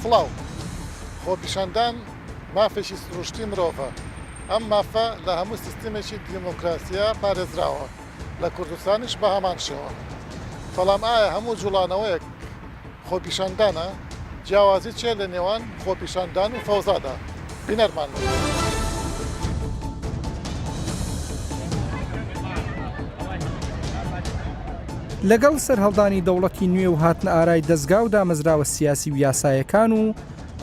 سڵاو، خۆپیشاندان مافێکی سروشتی مرۆڤە، ئەم مافە لە هەموو سیستمێکی دیموکراسیە پارێزراوە، لە کوردستانیش بە هەمان شێوە، بەڵام ئایا هەموو جوڵانەوەیەک، خۆپیشاندانە، جیاوازی چیە لە نێوان خۆپیشاندان و فەوزادا؟ بینەرمان بن. لەگەڵ سەرهەڵدانی دەوڵەتی نوێ و هاتنەئارای دەزگا و دامەزراوە سیاسی و یاسایەکان و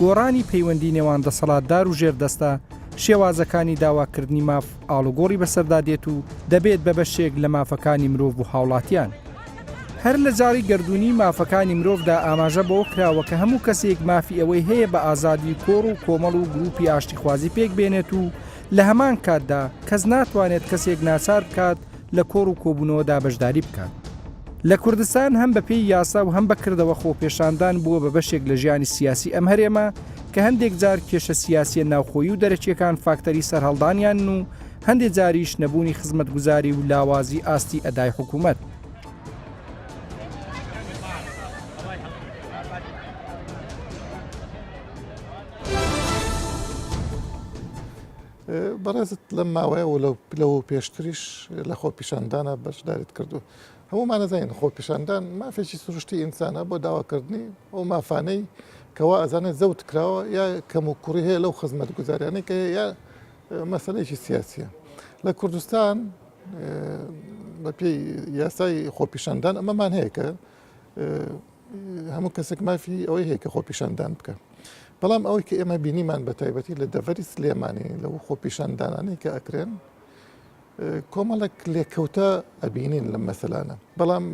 گۆڕانی پەیوەندی نێوان دەسەڵاتدار و ژێردەستە، شێوازەکانی داواکردنی ماف ئاڵوگۆڕی بەسەردا دێت و دەبێت بە بەشێک لە مافەکانی مرۆڤ و هاوڵاتیان. هەر لە جاڕی گەردوونی مافەکانی مرۆڤدا ئاماژە بەوە کراوە کە هەموو کەسێک مافی ئەوەی هەیە بە ئازادی و کۆڕ و کۆمەڵ و گروپی ئاشتیخوازی پێک بێنێت و لە هەمان کاتدا کەس ناتوانێت کەسێک ناچار بکات لە کۆڕ و کۆبوونەوەدا بەشداری بکات. لە کوردستان هەم بەپێی یاسا و هەم بە کردەوە خۆپێشاندان بووە بە بەشێک لە ژیانی سیاسی ئەم هەرێمە کە هەندێک جار کێشە سیاسییە ناوخۆیی و دەرەکییەکان فاکتەری سەرهەڵدانیانن و هەندێ جاریش نەبوونی خزمەتگوزاری و لاوازی ئاستی ئەدای حکوومەت. بەڕێزت لەم ماوەیە و لە پلە و پێشتریش لە خۆ پیشاندانە بەشداریت کردو هەمومان ئەزانین خۆ پیشاندان مافێکی سروشتی ئینسانە بۆ داواکردنی ئەو مافانەی کەوا ئەزانێت زەوت کراوە یا کەم و کوڕی هەیە لەو خزمەت گوزاریانەی کە یا مەسەلەیەکی سیاسیە لە کوردستان بەپی یاسای خۆپیشاندان ئەمەمان هەیە کە هەموو کەسێک مافی ئەوەی هەیە کە خۆپیشاندان بکە بەڵام ئەوەی کە ئێمە بینیمان بە تایبەتی لە دەڤەری سلێمانی لەو خۆپیشاندانانی کە ئەکرێن کۆمەڵک لێکەوتە ئەبینین لەم مەسەلانە بەڵام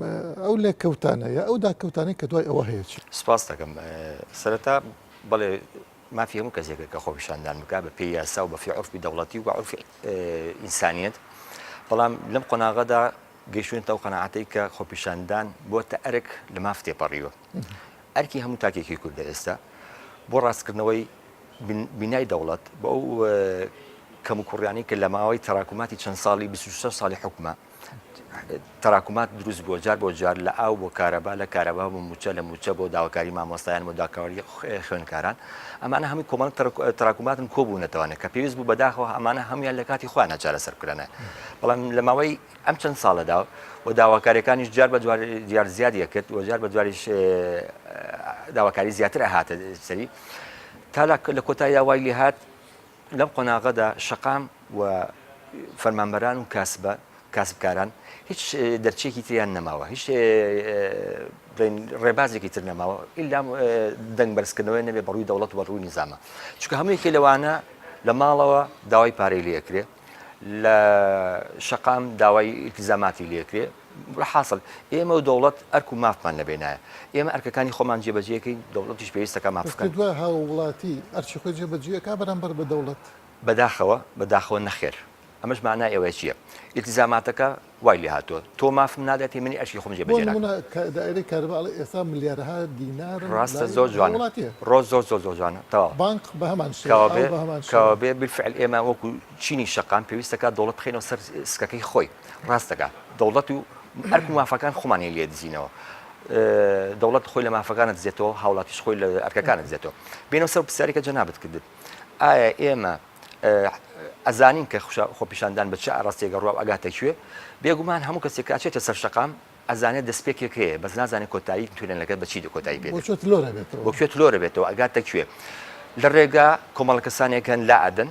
ئەو لێکەوتانەیە ئەو داکەوتانی کە دوای ئەوە هەیە چی سپاس دەکەم سەرەتا بەڵێ مافی هەموو کەسێکە کە خۆپیشاندان بکات بە پێی یاسا و بە فی عورفی دەوڵەتی و بە عورفی ئینسانیت بەڵام لەم قۆناغەدا گەیشتونێتە ئەو قەنەعاتەی کە خۆپیشاندان بۆتە ئەرک لە ماف تێپەڕیوە ئەرکی هەموو تاکێکی کوردە ئێستا بۆ ڕاستکردنەوەی بینای دەوڵەت بۆ ئەو کەم و کوڕیانی کە لە ماوەی تەراکوماتی چەند ساڵی 26 ساڵی حکومە تراکمات دروست بووە جار بۆ جار لە ئاو بۆ کارەبا لە کارەبا بۆ موچە لە موچە بۆ داواکاری مامۆستایان بۆ داکاری خوێنکاران ئەمانە هەمووی کۆمەڵ تراکماتن کۆبوونەتەوانە کە پێویست بوو بەداخەوە ئەمانە هەمویان لە کاتی خۆیان ناچارە سەرکرانە بەڵام لە ماوەی ئەم چەند ساڵەدا و داواکاریەکانیش جار بە دیار زیادیە کرد و جار بە دواریش داواکاری زیاتر هاتە سەری تا لە کۆتاییا وای لێ هاات لەم قۆناغەدا شەقام و فەرمانبەران و کاسبە کاسبکاران هیچ دەرچێکی تریان نەماوە هیچ ڕێبازێکی تر نەماوە ئیلا دەنگ بەرزکردنەوەی نەبێ بەڕووی دەوڵەت و بەڕووی نیزانە چکە هەموویکی لەوانە لە ماڵەوە داوای پارەی لەکرێ لە شەقام داوای ئیلتیزاماتی لەکرێ حاسڵ ئێمە و دەوڵەت ئەرک و مافمان لە بێنایە. ئێمە ئەرکەکانی خۆمان جێ بەجێ ئەکەین، دەوڵەتیش پێویستە کە مافەکانی. ئەرکی دوای هاووڵاتی ئەرکی خۆی جێ بەجێ ئەکا بەرامبەر بە دەوڵەت؟ بەداخەوە، بەداخەوە نەخێر. ئەمەش مانای ئەوە چییە؟ ئیلتیزاماتەکە وای لێ هاتووە، تۆ مافم نادەتێ منی ئەرکی خۆم جێ بەجێ ناکەم. بۆ نموونە کە دائیرەی کارەبا ئەڵێ ئێستا ملیارەها دینارم لای هاووڵاتییە. ڕاستە زۆر جوانە. زۆر جوانە تەواوە. بانک بە هەمان شێوە، ئاو بە هەمان شێوە. کەوابێ بیلفعل ئێمە وەکوو چینی شەقام پێویستە کە دەوڵەت بخەینەوە سەر سکەکەی خۆی. ڕاست دەکا دەوڵەت و ئەرک و مافەکان خۆمان هەیە لێ دزینەوە دەوڵەت خۆی لە مافەکانت دزێتەوە هاوڵاتیش خۆی لە ئەرکەکانت دزێتەوە بینەوە سەر پرسیارێکە جەنابەت کردت ئایا ئێمە ئەزانین کە خوشە خۆپیشاندان بە چ ئاراستێگە ڕواب ئەگاتە کوێ بێگومان هەموو کەسێک کاچێتە سەر شقام ئەزانێت دەستپێکێک هەیە بەس نازانێت کۆتایی تورێن لەگەر بەچی دەکۆتایی پێ لۆرە بێتەوە ئەگاتە کوێ لە ڕێگا کۆمەڵە کەسانێکن لا ئەدەن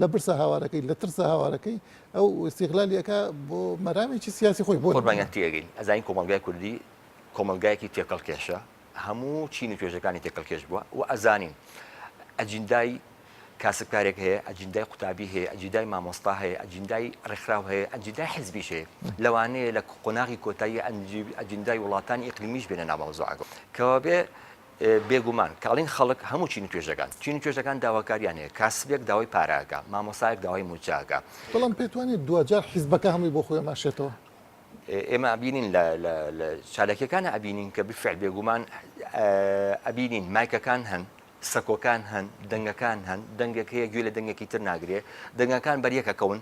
لە برسا هاوارەکەی لە ترسا هاوارەکەی ئەو ئیستیغلالی ئەکا بۆ مەرامێکی سیاسی خۆی بۆ قوربانیان تێگەین ئەزانین کۆمەڵگای کوردی کۆمەلگایەکی تێکەڵ کێشە هەموو چین و توێژەکانی تێکەڵ کێش بووە و ئەزانین ئەجیندای کاسبکارێک هەیە ئەجیندای قوتابی هەیە ئەجیدای مامۆستا هەیە ئەجیندای ڕێکخراو هەیە ئەجیدای حزبیش هەیە لەوانەیە لە قۆناغی کۆتایی ئەجیندای وڵاتانی ئیقلیمیش بێنە ناوەوەزۆعەکە کەوابێ بێگومان کاڵین خەڵک هەموو چین و توێژەکان چین و توێژەکان داواکاریان هەیە کاسبێک داوای پارە ئەکا مامۆستایەک داوای مووچە ئەکا. بەڵام پێت وانیە دواجار حیزبەکە هەمووی بۆ خۆی ئەماشێتەوە؟ ئێمە ئەبینین لە لە لە چالاکیەکانا ئەبینین کە بالفعل بێگومان ئەبینین مایکەکان هەن سەکۆکان هەن دەنگەکان هەن دەنگێک هەیە گوێ لە دەنگێکی تر ناگرێ دەنگەکان بەریەک ئەکەون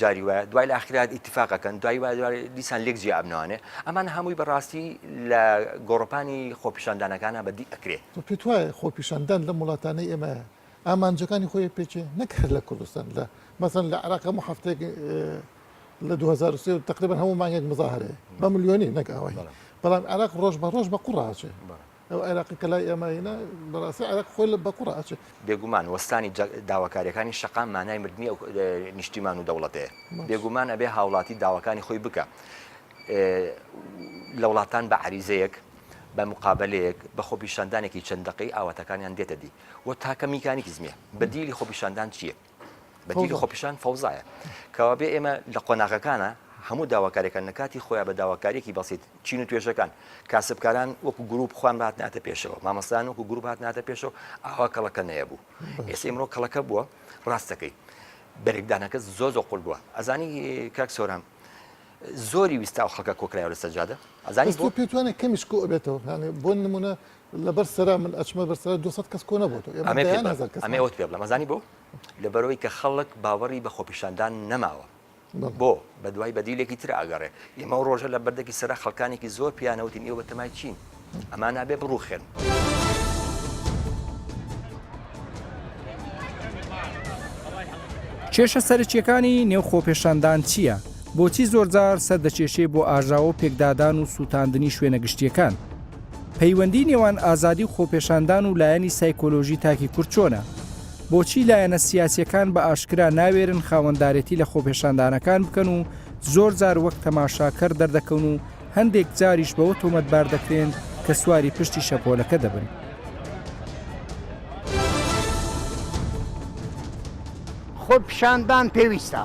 جاری وایە دوای لە ئاخرات ئیتفاقەکەن دوای وای دوای دیسان لێک جیا ئەبنەوانێ ئەمان هەمووی بەڕاستی لە گۆڕپانی خۆپیشاندانەکانە بەدی ئەکرێ تۆ پێت وایە خۆپیشاندان لەم وڵاتانەی ئێمە ئامانجەکانی خۆی پێچێ نەک هەر لە کوردستان لە مەسەن لە عراق هەموو هەفتێک لە 2023 تقریبا هەموو مانگێک مزاهرەیە بە ملیۆنی نەک ئەوەی بەڵام عراق ڕۆژ بە ڕۆژ بە قوڕاچێ ئەو عێراقی کە لای ئێمە هینا بەڕاستی عێراق خۆی لە بەقوڕ ئەچێ. بێگومان وەستانی داواکاریەکانی شەقام مانای مردنی ئەو نیشتیمان و دەوڵەتەیە. بێگومان ئەبێ هاوڵاتی داواکانی خۆی بکا لە وڵاتان بە عەریزەیەک بە مقابلەیەک بە خۆپیشاندانێکی چەند دەقەی ئاواتەکانیان دێتە دی و تاکە میکانیکزمیە بەدیلی خۆپیشاندان چیە؟ بەدیلی خۆپیشان فەوزایە کەوابێ ئێمە لە قۆناغەکانە هەموو داواکاریەکان لە کاتی خۆیان بە داواکاریەکی بەسییت چین و توێژەکان کاسبکاران وەکو گروپ خوان بات ناتە پێشەوە مامەستان وەکو گروپ هات ناتە پێشەوە ئاوا کەڵەکە نەیە بوو ئێستا ئمرۆ کەڵەکە بووە ڕاستەکەی بەرێکدانەکە زۆ زۆ قل بووە ئەزانی کاک سۆران زۆری ویستا و خەکە کۆکرایەوە لە سەجادە ئەزانی بۆ پێتوانێت کەمیش کۆ بێتەوە بۆ نمونە لەبەر سەرا من ئەچمە بەر سەرا دو سەد کەس کۆ نەبۆتەوە ئێمە ئەمەی پێت دەیان بڵێم هەزار کەسمان ئەمەی ئەوەت پێ بڵێم ئەزانی بۆ لەبەرەوەی کە خەڵک باوەڕی بە خۆپیشاندان نەماوە بەڵێ بۆ بە دوای بەدیلێکی تر ئاگەڕێ ئێمە ئەو ڕۆژە لە بەردەکی سەرا خەڵکانێکی زۆر پێیانە وتین ئێوە بەتەمای چین ئەمان ئەبێ بڕووخێن. کێشە سەرەکییەکانی نێو خۆپێشاندان چییە؟ بۆچی زۆرجار سەردەکێشێ بۆ ئاژاوە و پێکدادان و سووتاندنی شوێنە گشتییەکان؟ پەیوەندی نێوان ئازادی و خۆپێشاندان و لایەنی سایکۆلۆژی تاکی کورد چۆنە؟ بۆچی لایەنە سیاسیەکان بە ئاشکرا ناوێرن خاوەندارێتی لە خۆپێشاندانەکان بکەن و زۆر جار وەک تەماشاکەر دەردەکەون و هەندێک جاریش بەوە تۆمەتبار دەکرێن کە سواری پشتی شەپۆلەکە دەبن. خۆپیشاندان پێویستە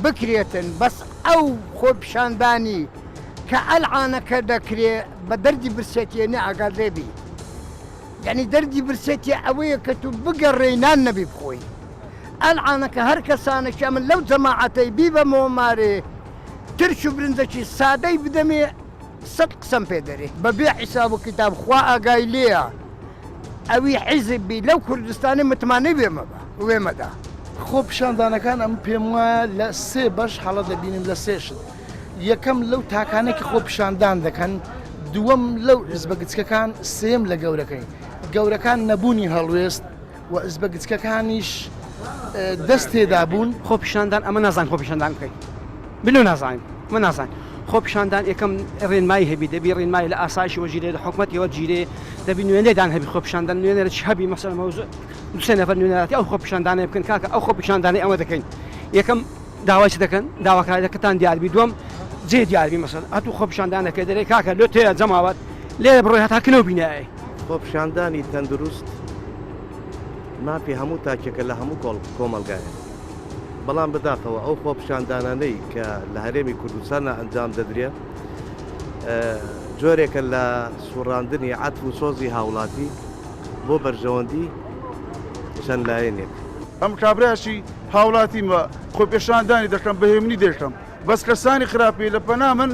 بکرێتن بەس ئەو خۆپیشاندانی کە ئەلعانەکە دەکرێ بە دەردی برسێتیە نە ئاگادرێ بی یەعنی دەردی برسێتیە ئەوەیە کە تو بگەڕێی نان نەبی بخۆی ئەلعانەکە هەر کەسانێکی ئەمن لەو جەماعەتەی بیبەمەوە مارێ ترش و برنجەکی سادەی بدەمێ سەد قسەم پێ دەرێ بە بێ حیساب و کیتاب خوا ئاگای لێیە ئەوی حیزب بی لەو کوردستانە متمانەی وێ مەبە وێ مەدە. خۆ پیشاندانەکان ئەم پێم وایە لە سێ بەش هەڵە دەبینم لە سێ شت یەکەم لەو تاکانە کە خۆ پیشاندان دەکەن دووەم لەو حزبە گچکەکان سێم لە گەورەکەی گەورەکان نەبوونی هەڵوێست و ئزبە گچکەکانیش دەست تێدا بوون. خۆپیشاندان ئەمە نازانین خۆپیشاندان بکەین بلۆ نازانین ئەمە نازانین خۆپیشاندان یەکەم ڕێنمایی هەبی دەبی ڕێنمایی لە ئاسایشی وەجیرێ لە حکومەتی وەجیرێ دەبی نوێنێدان هەبی خۆپیشاندان نوێنەر چ هەبی مەسەلە مەوزوع دوسێ نەفەر نوێنەراتی ئەو خۆپیشاندانە بکەن کاکە ئەو خۆپیشاندانەی ئەمە دەکەین یەکەم داوای چ دەکەن داواکاریەکەتان دیاربی دوم جێ دیاربی مەسەل هەتوو خۆپیشاندانەکە دەرێ کاکە لۆ تێ جەماوەت لێرە بڕۆی هەتا کنەو بینایە خۆپیشاندانی تەندروست مافی هەموو تاکێکە لە هەموو کۆڵ کۆمەلگایە بەڵام بەداخەوە ئەو خۆپیشاندانانەی کە لە هەرێمی کوردستانە ئەنجام دەدرێ جۆرێکە لە سوڕاندنی عات و سۆزی هاوڵاتی بۆ بەرژەوەندی چەند لایەنێک. ئەم کابرایەکی هاوڵاتیم و خۆپێشاندانی دەکەم بە هێمنی دەیکەم بەس کەسانی خراپی لە پەنا من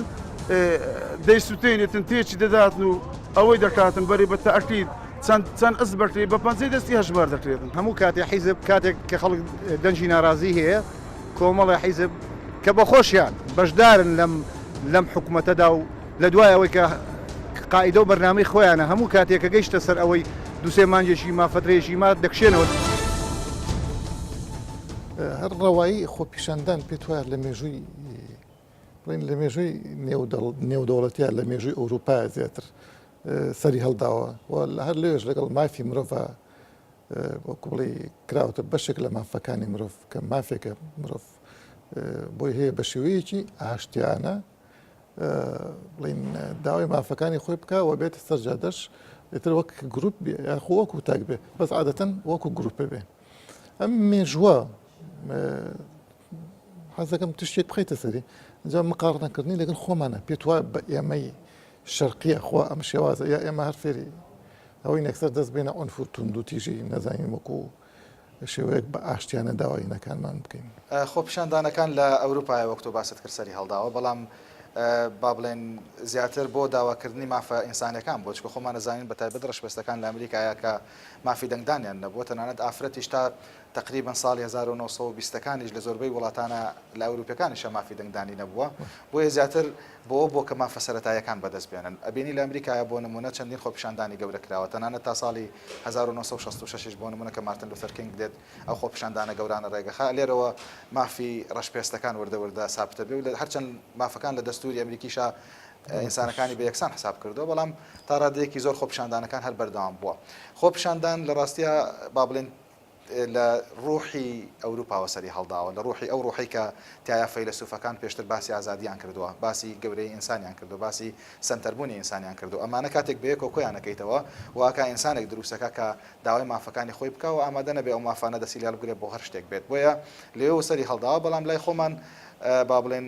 دەیسوتێنێتن تێچی دەداتن و ئەوەی دەکاتن بەری بە تاکید چەند چەند ئەس بەکری بە پەنجەی دەستی هەژمار دەکرێتن هەموو کاتێ حیزب کاتێک کە خەڵک دەنجی ناڕازی هەیە کۆمەڵە حیزب کە بە خۆشیان بەشدارن لەم لەم حکوومەتەدا و لە دوای ئەوەی کە قاعدە و بەرنامی خۆیانە هەموو کاتێک کە گەیشتە سەر ئەوەی دوسێ مانجێکی مافەترێژی ما دەکشێنەوە. هەر ڕەوایی خۆپیشاندان پێت وایە لە مێژووی بڵین لە مێژووی نێودەوڵەتیا لە مێژووی ئەوروپا زیاتر سەری هەڵداوە و لە هەر لەوێش لەگەڵ مافی مرۆڤ بڵی کراوەتە بەشێک لە مافەکانی مرۆڤ کە مافێکە مرۆڤ بۆی هەیە بە شێوەیەکی ئاشتیانە بڵین داوای مافەکانی خۆی بکە و بێتە سەرجادەش ئێتر وەک گروپ بێ یاخۆ وەکو تاک بێ بەس عادەتەن وەکو گروپە بێ ئەم مێژوە حەزەکەم تشتێک بخیتە سەری ئەجا مقارنەکردنی لەگەڵ خۆمانە پێت وایە بە ئێمەی شەرقیە خۆ ئەم شێوازە یا ئێمە هەر فێری ئەوەی نەکسەر دەست بێنە ئۆن فورتون دو تیژی نەزانین وەکو شێوەیەک بە ئاشتیانە داواینەکانمان بکەین خۆ پیشاندانەکان لە ئەوروپای وەک تۆ باست کرد سەری هەڵداوە بەڵام با بڵێن زیاتر بۆ داواکردنی مافە ئینسانەکان بۆچکە خۆمان نەزانین بە تایبەت ڕشپێستەکان لە ئەمریکایە کە مافی دەنگدانیان نەبووە، تەنانەت ئافرەتیش تا تەقریبەن ساڵی هەزار و نۆ سەد و بیست ەکانیش لە زۆربەی وڵاتانە لە ئەوروپیەکانیشە مافی دەنگدانی نەبووە، بۆیە زیاتر بەوە بووە کە مافە سەرەتاییەکان بەدەست بێنن، ئەبینی لە ئەمریکایا بۆ نموونە چەندین خۆپیشاندانی گەورە کراوە، تەنانەت تا ساڵی هەزار و نۆ سەد و شەست و شەش یش بۆ نموونە کە مارتن لوثەر کینگ دێت ئەو خۆپیشاندانە گەورانە ڕێگەخا لێرەوە مافی ڕەش پێستەکان وردە وردە سابتەبێ و هەرچەند مافەکان لە دەستووری ئەمریکیشا ئینسانەکانی بە یەکسان حساب کردووە، بەڵام تا ڕادەیەکی زۆر خۆپیشاندانەکان هەر بەردەوام بووە. خۆپیشاندان لە ڕاستیا با بڵێین لە ڕووحی ئەوروپاوە سەری هەڵداوە، لە ڕووحی ئەو ڕووحەی کە تیایا فەیلەسووفەکان پێشتر باسی ئازادییان کردووە، باسی گەورەیی ئینسانیان کردووە، باسی سەنتەربوونی ئینسانیان کردووە. ئەمانە کاتێک بەیەکەوە کۆیان ئەکەیتەوە، وا ئەکا ئینسانێک دروست ئەکا کە داوای مافەکانی خۆی بکا و ئامادە نەبێ ئەو مافانە دەستی لێ هەڵبگرێ بۆ هەر شتێک بێت. بۆیە لێ و سەری هەڵداوە، بەڵام لای خۆمان با بڵێین،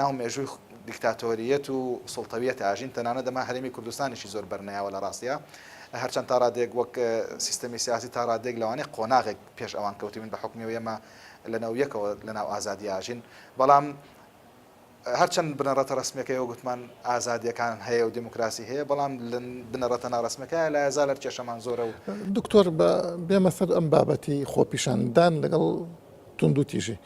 ناو مێژووی دیکتاتۆرییەت و سوڵتەوییەت ئاژین، تەنانەت ئەمە هەرێمی کوردستانیشی زۆر بەرنەیاوە لە ڕاستیا، هەرچەند تا ڕادەیەک وەک سیستەمی سیاسی تا ڕادەیەک لەوانەیە قۆناغێک پێش ئەوان کەوتبین بە حوکمی ئەوەی ئێمە لە نەوەی یەکەوە لە ناو ئازادی ئاژین، بەڵام هەرچەند بنەڕەتە ڕەسمییەکەی وەک گوتمان ئازادییەکان هەیە و دیموکراسی هەیە، بەڵام لە بنەڕەتە ناڕەسمییەکەیان لە ئێزا لەر کێشەمان زۆرە و. دکتۆر بێمە سەر ئەم بابەتی خۆپیشاندان لەگەڵ. توندوتیژی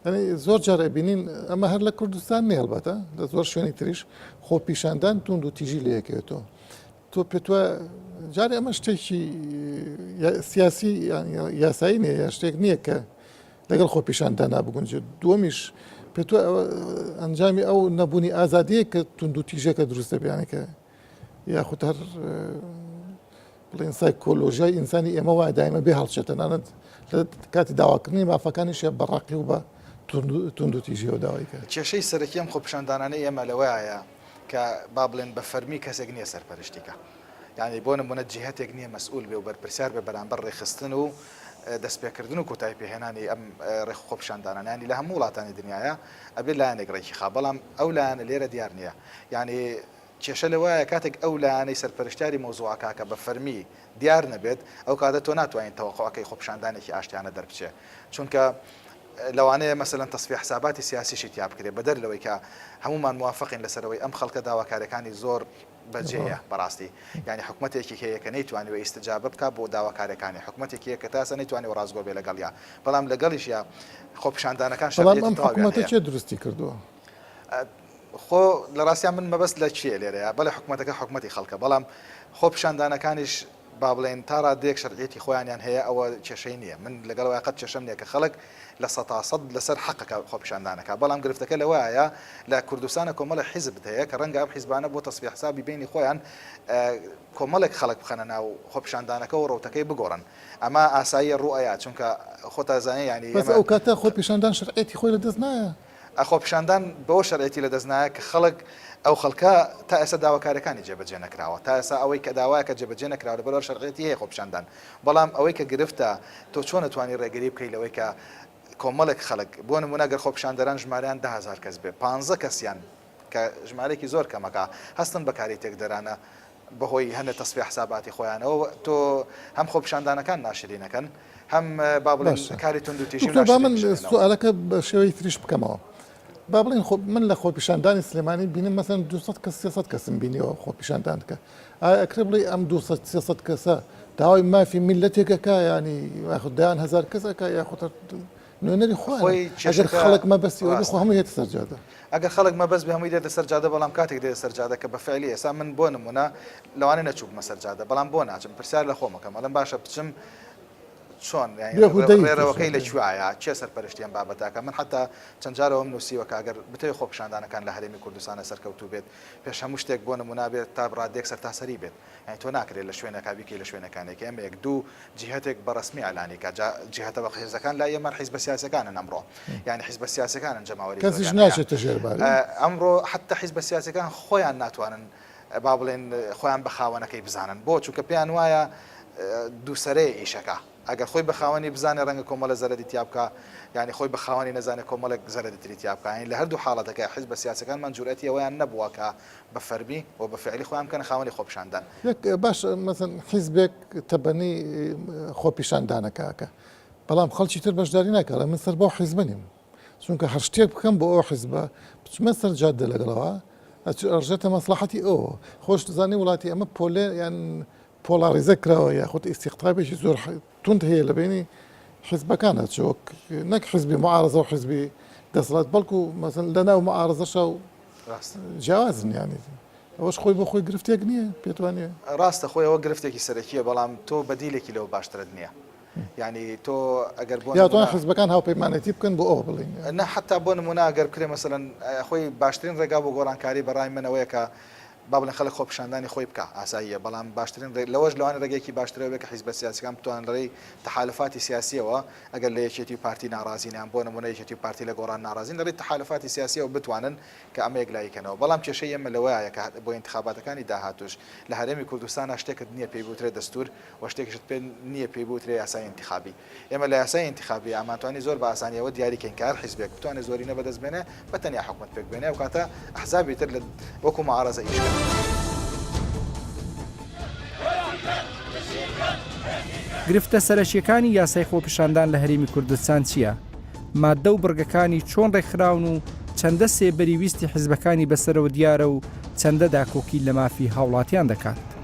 ئەنی زۆر جار ئەبینین ئەمە هەر لە کوردستان نیە هەڵبەتە لە زۆر شوێنی تریش خۆپیشاندان توندوتیژی لەیەکێتەوە تۆ پێتوە جارێ ئەمە شتێکی سیاسی یاسایی نیە یا شتێک نییە کە لەگەڵ خۆپیشاندانا بگونجێت دووەمیش پێتوە ئەنجامی ئەو نەبوونی ئازادەیە کە توندوتیژەکە دروستە بیانەکە یاخود هەر بڵێن سایکۆلۆژیای ئینسانی ئێمە وایە دایمە بێ هەڵچێت تەنانەت لە کاتی داواکردنی مافەکانیشە بە ڕەقی و بە توند و تیژیەوە داوای کرد. کێشەی سەرەکی ئەم خۆپیشاندانانەی ئێمە لەوەیە کە با بڵێن بە فەرمی کەسێک نییە سەرپەرشتی کا. یانی بۆ نموونە جیهەتێک نییە مەسئول بێ و بەرپرسیار بێ بەرامبەر ڕێکخستن و دەستپێکردن و کۆتایی پێهێنانی ئەم ڕێک و خۆپیشاندانانە. یانی لە هەموو وڵاتانی دنیایە ئەبێ لایەنێک ڕێکی خا بەڵام ئەو لایەنە لێرە دیار نییە. یانی کێشە لەوایە کاتێک ئەو لایەنەی سەرپەرشتیاری مەوزوعە کاکە بە فەرمی دیار نەبێت ئەو کاتە تۆ ناتوانیت تەوەقوع کەی خۆپیشاندانێکی ئاشتیانە دەربچێ چونکە لەوانەیە مەسەلەن تەسفیە حساباتی سیاسیشی تیا بکرێ بەدەر لەوەی کە هەموومان موافقین لەسەر ئەوەی ئەم خەڵکە داواکاریەکانی زۆر بەجێیە بەڕاستی یانی حکومەتێکی هەیە کە نەیتوانیوە ئیستجابە بکا بۆ داواکاریەکانی حکومەتێکی هەیە کە تاسە نەیتوانیوە ڕاستگۆ بێ لەگەڵیا بەڵام لەگەڵیشیا خۆپیشاندانەکان شەرعیەتی تەواویان هەیە. بەڵام ئەم حکومەتە کێ دروستی کردووە؟ خۆ لە ڕاستیا من مەبەست لە کێ لێرەیە، بەڵێ حکومەتەکە حکومەتی خەڵکە، بەڵام خۆ پیشاندانەکانیش با بڵێین تا ڕادەیەک شەرعیەتی خۆیانیان هەیە ئەوە کێشەی نییە، من لەگەڵ ئەوەی قەت کێشەم نییە کە خەڵک لە سەتا سەد لەسەر حەقەکە خۆپیشاندان ئەکا، بەڵام گرفتەکە لەوەایە لە کوردستانە کۆمەڵێک حیزب هەیە کە ڕەنگە ئەم حیزبانە بۆ تەسفیە حسابی بەینی خۆیان کۆمەڵێک خەڵک بخەنە ناو خۆپیشاندانەکە و ڕەوتەکەی بگۆڕن ئەمە ئاساییە ڕوو ئەیا چونکە خۆت ئەزانێ یانی بەس ئەو کاتە خۆپیشاندان شەرعیەتی خۆی لە دەست نایە؟ ئە خۆپیشاندان بەوە شەرعیەتی لەدەست نایە کە خەڵک ئەو خەڵکە تا ئێستا داواکارەکانی جێبەجێ نەکراوە تا ئێستا ئەوەی کە داوایەکە جێبەجێ نەکراوە لەبەر ئەوە شەرعیەتی هەیە خۆپیشاندان بەڵام ئەوەی کە گرفتە تۆ چۆن ئەتوانی ڕێگری بکەی لەوەی کە کۆمەڵێک خەڵک بۆ نموونە گەر خۆپیشاندەران ژماریان دە هەزار کەس بێ پانزە کەسیان کە ژمارەیەکی زۆر کەمەکە هەستن بە کاری تێکدەرانە بەهۆی هەندێک تەسفیە حساباتی خۆیانەوە تۆ هەم خۆپیشاندانەکان ناشرینەکەن هەم با بڵێن کاری توندوتیژی و ناشرین بکەنەوە. دکتۆر با من سوالەکە بە شێوەی تریش بکەمەوە با بڵێن خۆ من لە خۆپیشاندانی سلێمانی بینم مەسەن 200 کەس 300 کەسم بینیەوە خۆپیشاندان دکە ئایا ئەکرێ بڵێ ئەم 200 300 کەسە داوای مافی میللەتێک ئەکا یانی یاخود دەیان هەزار کەس ئەکا یاخود نوێنەری خوانە خۆی ئەگەر کێشەکە خەڵک مەبەستی ئەوەبێ خۆ ڕاستە هەمووی دێتە سەر جادە. ئەگەر خەڵک مەبەست بێ هەمووی دێتە سەر جادە بەڵام کاتێک دێتە سەر جادە کە بە فعلی ئێستا من بۆ نموونە لەوانەیە نەچووبمە سەر جادە بەڵام بۆ ناچم پرسیار لە خۆم ئەکەم ئەڵێم باشە بچم چۆن یانی ڕێ بێهودەی ڕێڕەوەکەی لە کێشەکەیە. کوێایە کێ سەرپەرشتی ئەم بابەتە ئەکا من حەتا چەند جار ئەوەم نووسیوە کە ئەگەر بتەوێ خۆپیشاندانەکان لە هەرێمی کوردستانە سەرکەوتوو بێت پێش هەموو شتێک بۆ نموونە بێت تا ڕاددەیەک سەرتاسەری بێت یانی تۆ ناکرێت لە شوێنەکا بیکەی لە شوێنەکانێک یان بە یەک دوو جیهەتێک بە ڕەسمی ئەلانی کات جا جیهەتە بە قیرزەکان لای ئێمە حیزبە سیاسەکانن ئەمڕۆ یانی حیزبە سیاسەکانن جەماوەری زۆرەکان کەسیش ناچێتە ژێر باری ئەمڕۆ حەتە حیزبە سیاسەکان خۆیان ناتوانن با بڵێن خۆیان بە خاوەنەکەی بزانن بۆ چونکە پێیان وایە دوو سەرەیە ئیشەکە ئەگەر خۆی بە خاوەنی بزانێ ڕەنگە کۆمەڵە زەرەدی تیا بکا یانی خۆی بە خاوەنی نەزانێ کۆمەڵێک زەرەدی تری تیا بکا یانی لە هەردوو حاڵەتەکە حیزبە سیاسەکانمان جورئەتی ئەوەیان نەبووە کە بە فەرمی و بە فعلی خۆیان بکەنە خاوەنی خۆپیشاندان. باش مەسەن حیزبێک تەبەنەی خۆپیشاندانەکاکە بەڵام خەڵکی تر بەشداری ناکە لە من سەر بەو حیزبە نیم چونکە هەر شتێک بکەم بۆ ئەو حیزبە بچمە سەر جادە لەگەڵەوە ئەچ ئەڕژێتە مەسلحەتی ئەو خۆش دەزانی وڵاتی ئەمە پۆلێ یان پۆڵاڕیزە کراوە یاخود ئیستیقطابێکی زۆر توند هەیە لە بەینی حیزبەکانە چ وەک نەک حیزبی معارەزە و حیزبی دەسەڵات بەڵکو مەسەن لە ناو معارەزەشە و جیاوازن یانی ئەوەش خۆی بۆ خۆی گرفتێک نییە پێتوانێ ڕاستە خۆی ئەوە گرفتێکی سەرەکیە بەڵام تۆ بەدیلێکی لەوە باشترت نییە ینی تۆ ئەگەر بۆ یاوان حزبەکان هاوپەیمانەتی بکەن بۆ ئەوە بڵین نە حتا بۆ نمونە گەر بکرێ مەسەن خۆی باشترین ڕێگا بۆ گۆڕانکاری بەڕای منەوەیەکە با بڵێن خەڵک خۆپیشاندانی خۆی بکا ئاساییە، بەڵام باشترین ڕێ لەوەش لەوانەیە ڕێگەیەکی باشترەوە بێ کە حیزبە سیاسیەکان بتوانن لە ڕێی تەحالوفاتی سیاسیەوە ئەگەر لە یەکێتی و پارتی ناڕازین یان بۆ نموونە یەکێتی و پارتی لە گۆڕان ناڕازین لە ڕێی تەحالوفاتی سیاسیەوە بتوانن کە ئەمە یەکلایی کەنەوە بەڵام کێشەی ئێمە لەوەایە کە بۆ ئینتخاباتەکانی داهاتووش لە هەرێمی کوردستانا شتێکت نییە پێی بوترێ دەستوور و شتێکیشت پێ نییە پێی بوترێ یاسای ئینتخابی. ئێمە لە یاسای ئینتیخابی ئامانتوانی زۆر بە ئاسانی ئەوە دیاری کەین کە هەر حیزبێک بتوانێ زۆرینە بەدەست بێنێ بە تەنیا حکومەت پێک بێنێ و کاتە ئەحزابی تر لە وەکو معارەزە ئیش کەن. گرفتە سەرەکیەکانی یاسای خۆپیشاندان لە هەرێمی کوردستان چییە؟ ماددە و بڕگەکانی چۆن ڕێکخراون و چەندە سێبەری ویستی حزبەکانی بەسەرەوە دیارە و چەندە داکۆکی لە مافی هاوڵاتیان دەکات.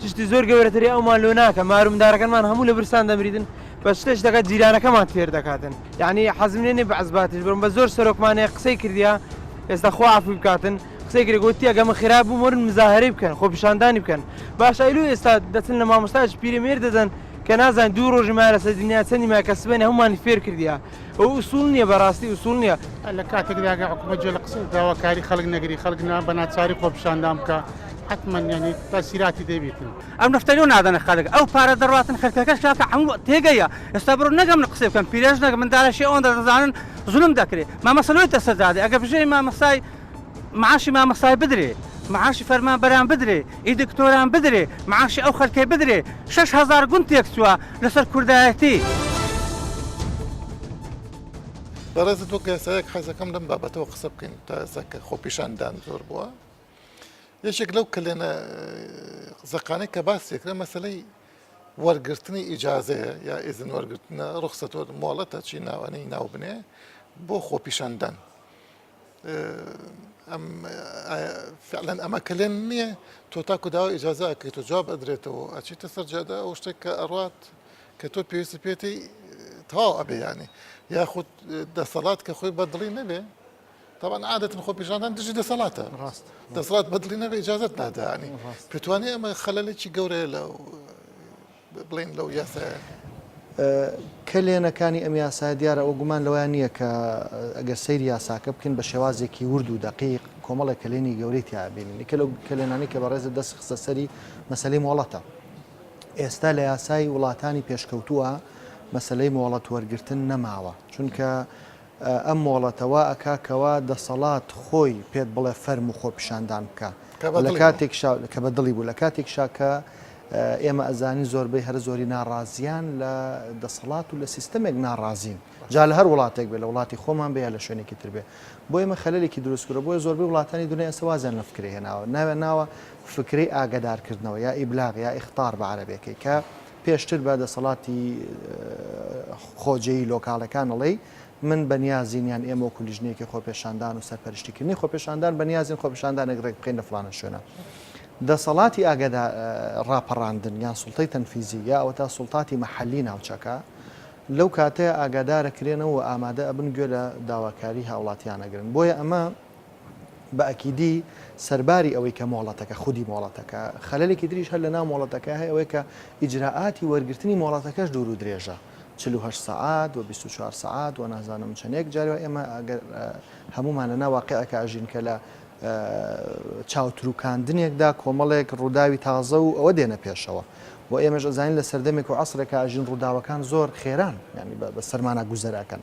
چشتی زۆر گەورەتری ئەومان لۆ ناکە مارو مندارەکەنمان هەموو لە برسان دەمریدن بەس شتێش دەکات جیرانەکەمان فێر دەکاتن یانی حەزم لێ نیە بە عەزباتیش بم بە زۆر سەرۆکمان هەیە قسەی کردیە ئێستا خوا عەفوی بکاتن قسەی کرێ گۆتی ئەگە من خراب بووم وەرن مزاهەرەی بکەن خۆ پیشاندانی بکەن باشە ئەی لۆ ئێستا دەچن لە مامۆستایەکی پیرەمێرد دەدەن کە نازانین دوو ڕۆژی مایە لەسەر دنیا چەندی مایە کە سبەینێ هەموومانی فێر کردیە ئەوە ئوسوڵ نیە بەڕاستی ئوسوڵ نیە. لە کاتێکدا گەر حکومەت جێ لە قسە داواکاری خەڵک نەگری خەڵک نا بە ناچاری خۆپیشاندان بکا حەتمەن یانی تاسیراتی دەبیتن. ئەم نەفتە لۆ نادەنە خەلک ئەو پارە دەڕاتن خەلکەکەش کاکە حەموو تێگەیە ئێستا بڕۆ نەگە من قسەی بکەم پیرێژنەک مندالە شێ ئەوەندە دەزانن زولم دەکرێ مامەسە لۆی دەسەجادێ ئەگە بژێوی مامەسای معاشی مامەسای بدرێ معاشی فەرمان بەران بدرێ ی دکتۆران بدرێ معاشی ئەو خەلکەی بدرێ شەش هەزار گوند تێکچوە لەسەر کوردایەتی. بەڕێزت وەک یاسایەک حەزەکەم لەم بابەتەوە قسە بکەین تا ئێستا کە خۆپیشاندان زۆر بووە یەکێک لەو کەلێنە زەقانەی کە باس دەکرێت مەسلەی وەرگرتنی ئیجازەیە یا ئێزن وەرگرتنە ڕخسەتۆر مۆڵەتە چی ناوانەی ناوبنێ بۆ خۆپیشاندان ئەم فعلەن ئەمە کلێن نییە تۆ تاکو داوا ئیجازە ئەکەیت و جواب ئەدرێتەوە ئەچیتە سەر جادە ئەو شتێک کە ئەڕات کە تۆ پێویستی پێێتی تەواو ئەبێ ینی یاخود دەسەڵات کە خۆی بەدڵی نەبێ طبعا عادەتن خۆ پیشاندان دژی دەسەڵاتە ڕاست دەسەڵات بەدڵی نەبێ ئیجازت نادانی پێتوانێ ئەمە خەلەلێکی گەورەیە لە بڵێن لەو یاسایە؟ کەلێنەکانی ئەم یاسایە دیارە ئەوە گومان لەوەیان نییە کە ئەگەر سەیری یاساکە بکەین بە شێوازێکی ورد و دەقیق کۆمەڵێک کەلێنی گەورەی تیابینین یکە لەو کەلێنانی کە بەڕێزە دەست خستە سەری مەسلەی مۆڵەتە ئێستا لە یاسای وڵاتانی پێشکەوتووە مەسلەی مۆڵەت وەرگتن نەماوە چونکە ئەم مۆڵەتە وا ئەکا کەوا دەسەڵات خۆی پێت بڵێ فەرموو خۆپیشاندان بکە و لە کاتێکشا کە بە دڵی بوو لە کاتێکشا کە ئێمە ئەزانین زۆربەی هەرە زۆری ناڕازیان لە دەسەڵات و لە سیستەمێک ناڕازین جا لە هەر وڵاتێک بێ لە وڵاتی خۆمان بێ یا لە شوێنێکی تر بێ بۆ ئێمە خەلەلێکی دروست کورە بۆیە زۆربەی وڵاتانی دنیا ئێستا وازیان لە فکرەی هێناوە ناوێ ناوە فکرەی ئاگەدارکردنەوە یا ئیبلاغ یا ئیخطار بە عەرەبێکەی کە پێشتر بە دەسەڵاتی خۆجێی لۆکاڵەکان ئەڵێی من بە نیازین یان ئێمە وەکو لیژنەیەکی خۆپێشاندان و سەرپەرشتیکردنی خۆپێشاندان بە نیازین خۆپێشاندانێک ڕێک بخەین لە فڵانە شوێنە. دەسەڵاتی ئاگەدا ڕاپەڕاندن یان سوڵتەی تەنفیزی یا ئەوەتا سوڵتاتی مەحەلی ناوچەکە لەو کاتەیە ئاگادارەکرێنەوە و ئامادە ئەبن گوێ لە داواکاری هاوڵاتیان ئەگرن. بۆیە ئەمە بە ئەکیدی سەرباری ئەوەی کە مۆڵەتەکە، خودی مۆڵەتەکە، خەلەلێکی تریش هەر لە ناو مۆڵەتەکە هەیە ئەوەیە کە ئیجرائاتی وەرگرتنی مۆڵەتەکەش دوور و درێژە چل و هەشت سەعات و بیست و چوار سەعات و نازانم چەنێک جاری وایە ئێمە ئەگەر هەموومان لە ناو واقیعێکا ئەژین کە لە چاوتروکاندنێکدا کۆمەڵێک ڕووداوی تازە و ئەوە دێنە پێشەوە و ئێمەش ئەزانین لە سەردەمێک و عەسرێکا ئەژین ڕووداوەکان زۆر خێران یانی بە سەرمانا گوزەر ئەکەن.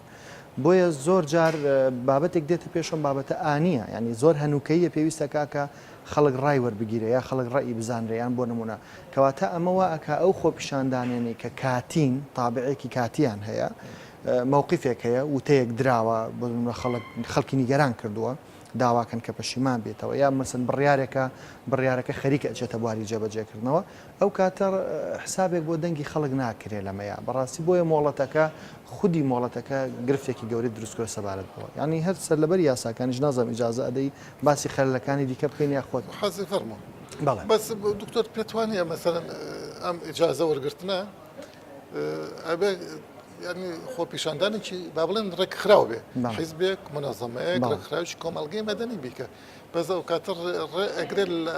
بۆیە زۆر جار بابەتێک دێتە پێش ئەم بابەتە ئانییە یانی زۆر هەنووکەییە پێویستە کاکە خەڵک ڕای وەربگیرێ یا خەڵک ڕەئی بزانرێ یان بۆ نموونە کەواتە ئەمە وا ئەکا ئەو خۆپیشاندانانەی کە کاتین تابعێکی کاتیان هەیە مەوقیفێک هەیە وتەیەک دراوە بۆ نموونە خەڵک خەڵکی نیگەران کردووە داواکەن کە پەشیمان بێتەوە یا مەسەن بڕیارێکە بڕیارەکە خەریکە ئەچێتە بواری جێبەجێکردنەوە ئەو کاتە حسابێک بۆ دەنگی خەڵک ناکرێ لەمەیا بەڕاستی بۆیە مۆڵەتەکە خودی مۆڵەتەکە گرفتێکی گەورەی دروست کرد سەبارەت بەوە یانی هەر سەرلەبەری یاساکانیش نازانم ئیجازە ئەدەی باسی خەلەکانی دیکە بکەین یا خۆت حەزی فەرموو بەڵێ بەس دکتۆر پێت وانیە مەسەلەن ئەم ئیجازە وەرگرتنە ئەبێ یعنی خۆپیشاندانێکی با بڵێن ڕێکخراو بێ حیزبێک منەزەمەیەک ڕێکخراوی کۆمەلگەی مەدەنی بیکە بەس ئەو کاتە ئەگرێت لە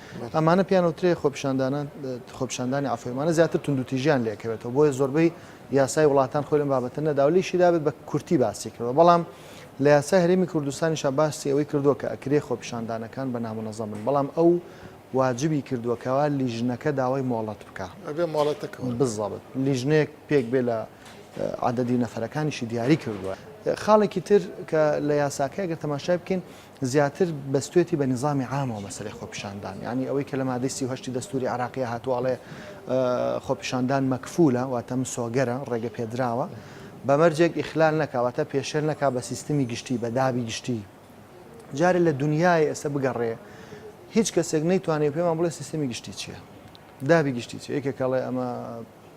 ئەمانە پێیان ئەوترێ خۆپیشاندانە خۆپیشاندانی عەفوی ئەمانە زیاتر توندوتیژیان لێکەوێتەوە بۆیە زۆربەی یاسای وڵاتان خۆی لەم بابەتە نەداوە لێشی دابێت بە کورتی باسی کردەوە بەڵام لە یاسای هەرێمی کوردستانیشا باسی ئەوەی کردووە کە ئەکرێ خۆپیشاندانەکان بە نامونەزەم بن بەڵام ئەو واجبی کردووە کەوا لیژنەکە داوای مۆڵەت بکا ئەبێ مۆڵەتەکە وەربگرێ. بزاڵت لیژنەیەک پێک بێ لە عەدەدی نەفەرەکانیشی دیاری کردووە خاڵێکی تر کە لە یاساکە گەر تەماشای بکەین زیاتر بەستوێتی بە نیزامی عامەوە مەسەلەی خۆپیشاندان یانی ئەوەی کە لە مادەی سی و هەشتی دەستوری عێراقیە هاتووە ئەڵێ خۆپیشاندان مەکفولە واتە مسۆگەرە ڕێگە پێدراوە بە مەرجێک ئیخلال نەکاواتە پێشێل نەکا بە سیستمی گشتی بە دابی گشتی جارێ لە دنیای ئێستا بگەڕێ هیچ کەسێک نەیتوانێت پێمان بڵێ سیستمی گشتی چییە دابی گشتی چی یەکێکەڵێ ئەمە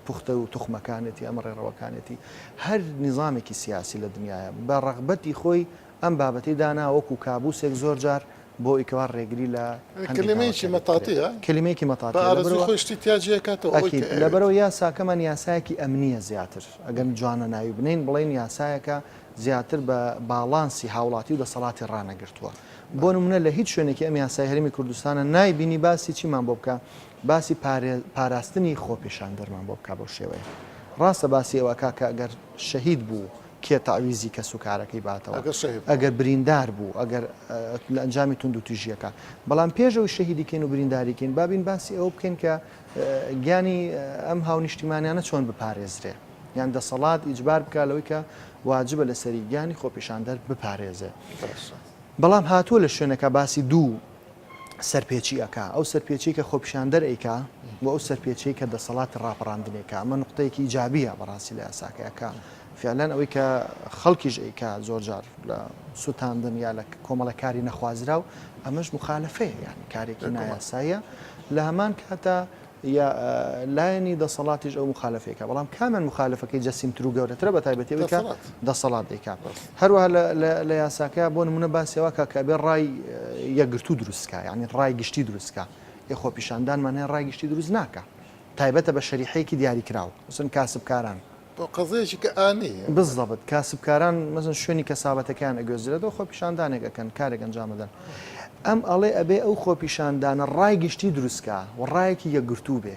پوختە و توخمەکانێتی ئەمە ڕێڕەوەکانێتی هەر نیزانێکی سیاسی لە دنیاە بە ڕەغبەتی خۆی ئەم بابەتەی دانا وەکو کابوسێک زۆر جار بۆ ی کەوا ڕێگری لە هەندێک کلیمەیەکی داواکاری بکرێت. مەتاتیە کلیمەیەکی بە مەتاتیە لە ئارەزوی بەرەوە خۆی شتی تیا جیا کاتەوە ئەوەی کە ئەکید لە ئەوێت. بەرەوە یاساکەمان یاسایەکی ئەمنیە زیاتر ئەگەم جوانە ناوی بنێین بڵێین یاسایەکە زیاتر بە باڵانسی هاوڵاتی و دەسەڵاتی ڕانەگرتوە بۆ بەڵێ. نمونە لە هیچ شوێنێکی ئەم یاسای هەرێمی کوردستانە نای بینی باسی چیمان بۆ بکا باسی پارێ پاراستنی خۆپیشاندەرمان بۆ بکا بەو شێوەیە ڕاستە باسی ئەوە ئەکا کە ئەگەر شەهید بوو کێ تەعویزی کەس و کارەکەی باتەوە ئەگەر شەهید بوو. ئەگەر بریندار بوو ئەگەر لە ئەنجامی توندوتیژییەکان بەڵام پێش ئەوەی شەهیدی کەین و برینداری کەین با بین باسی ئەوە بکەین کە گیانی ئەم هاونیشتیمانیانە چۆن بپارێزرێ یان دەسەڵات ئیجبار بکا لەوەی کە واجبە لەسەری گیانی خۆپیشاندەر بپارێزێ بەڵام هاتووە لە شوێنەکە باسی دوو سەرپێچی ئەکا، ئەو سەرپێچیەی کە خۆپیشاندەر ئەیکا و ئەو سەرپێچیەی کە دەسەڵاتی ڕاپەڕاندن ئەیکا، ئەمە نوقتەیەکی ئیجابیە بەڕاستی لە یاساکەیا کە فیعلەن ئەوەی کە خەڵکیش ئەیکا زۆر جار لە سوتاندن یا لە کۆمەڵە کاری نەخوازراو ئەمەش مخالەفەیە یانی کارێکی نایاساییە لە هەمان کاتا یا لایەنی دەسەڵاتیش ئەو موخالەفەی کە بەڵام کامیان موخالەفەکەی جەسیم ترو گەورەترە بە تایبەتی ئەوی کە دەسەڵات دەیکا هەروە لە یاساکە بۆ نمونە باسیەوە کە کە بێ ڕای یەکگرتو دروستکە ینی ڕای گشتی دروستکە ی خۆپیشاندانمان هەیە ڕای گشتی دروست ناکە تایبەتە بە شەریحەیەکی دیاریکراوە وسن کاسبکاران بۆ قەزەیەکی کە ئانەیە. بالضبط کاسبکاران مەسەن شوێنی کەسابەتەکەیان ئەگوێزرێتەوە خۆپیشاندانێک ئەکەن کارێک ئەنجام ئەدەن ئەم ئەڵێ ئەبێ ئەو خۆپیشاندانە ڕای گشتی دروست کا و ڕایەکی یەکگرتوو بێ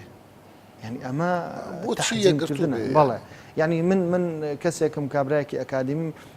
یعنی ئەمە بۆ چی یەکگرتوو بێ بەڵێ یعنی من من کەسێکم کابراایەکی ئەکادیمیم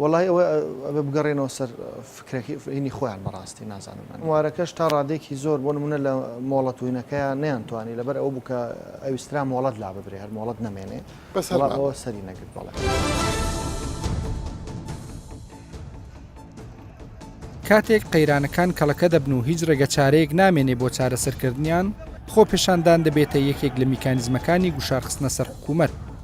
وەڵای ئەوە ئەبێ بگەڕێنەوە سەر فکرەکەی هینی خۆیان بەڕاستی نازانم ئەنوارەکەش تا ڕادێکی زۆر بۆ نمونە لە مۆڵەت وینەکەیان نەیانتوانی لەبەر ئەوە بوو کە ئەویسترا مۆڵەت لا ببرێ هەر مۆڵەت نەمێنێ بەس هەڵا ئەوە سەری نەگرت بەڵێ. کاتێک قەیرانەکان کەڵەکە دەبن و هیچ ڕێگە چارەیەک نامێنێ بۆ چارەسەرکردنیان خۆپێشاندان دەبێتە یەکێک لە میکانزمەکانی گوشارخستنە سەر حکوومەت